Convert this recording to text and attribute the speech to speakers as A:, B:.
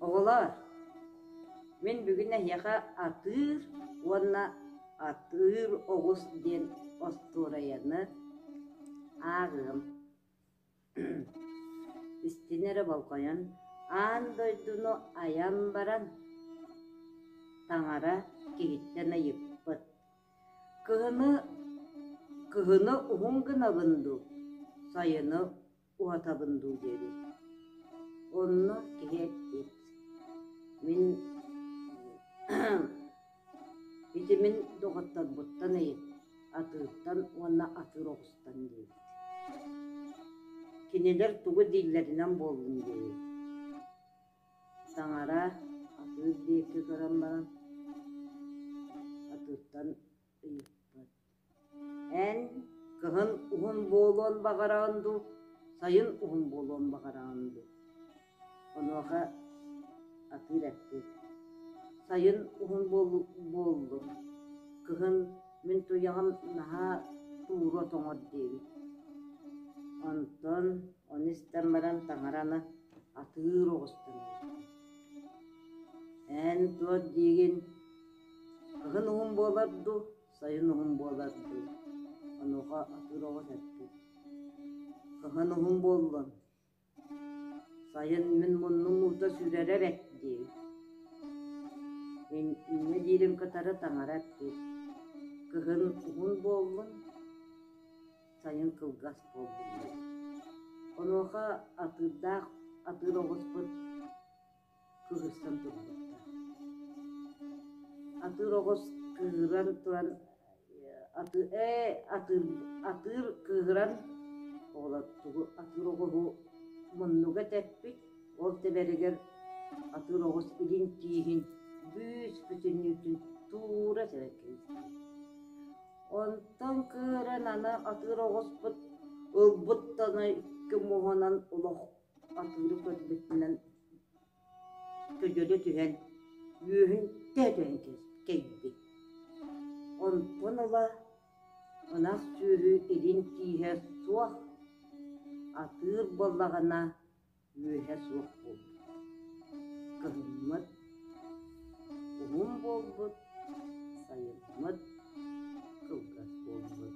A: Оҕолоор, мин бүгүн эһиэхэ атыыр уонна атыыр оҕус диэн остуоруйаны ааҕыам Истини эрэ болҕойон, аан дойдуну айан баран, таҥара киһиттэн ыйыппыт: «Кыһыны кыһыны уһун гынабын дуу, сайыны уһатабын дуу диэбит. Онно киһи эппит: «Мин Ити мин доҕотторбуттан ыйыппыт, атыыртан уонна атыыр оҕустан диэбит Кинилэр тугу дииллэринэн буоллун диэри Таҥара атыыр диэки көрөн баран, атыыртан ыйыппыт Эн кыһын уһун буолуон баҕараҕын дуу, сайын уһун буолуон баҕараҕын дуу? Онуоха атыыр эппит: «Сайын уһун буоллун, кыһын мин туйаҕым наһаа туура тоҥор» диэбит. Онтон ону истэн баран таҥараны атыыр оҕустан ыйытта: «Эн туох диигин, кыһын уһун буолар дуу, Сайын уһун буолар дуу, онуоха атыыр оҕо сэргит. Кыһын уһун буоллун, сайын мин муннум уута сүүрэрэ эбэт дии. Мин инньэ диирим кытары таҥара эппит. Кыһын уһун буоллун, сайын кылгас буоллун. Онуоха атыырдаах атыыр оҕуспут кыырсан турбуттар. Атыыр оҕус кыыран туран атыыр ээ атыыр атыыр кыыран оҕолор тугу атыыр оҕуһу муннуга тэппит ол тэбэригэр атыыр оҕус илин тииһин бүүс-бүтүн үүтүн туура сэрэн кэбистэ. Онтон кыыран аны атыыр оҕуспут ылбыттан икки муһунан олох Атыыры көрбүтүнэн көдьөлө түһэн, үөһүнтэ өтөн кэйбит. Онтон ыла ынах сүөһү илин тииһэ суох, атыыр буоллаҕына үөһэ суох буолбут. Кыһыммыт, уһун буолбут, сайыммыт, кылгас буолбут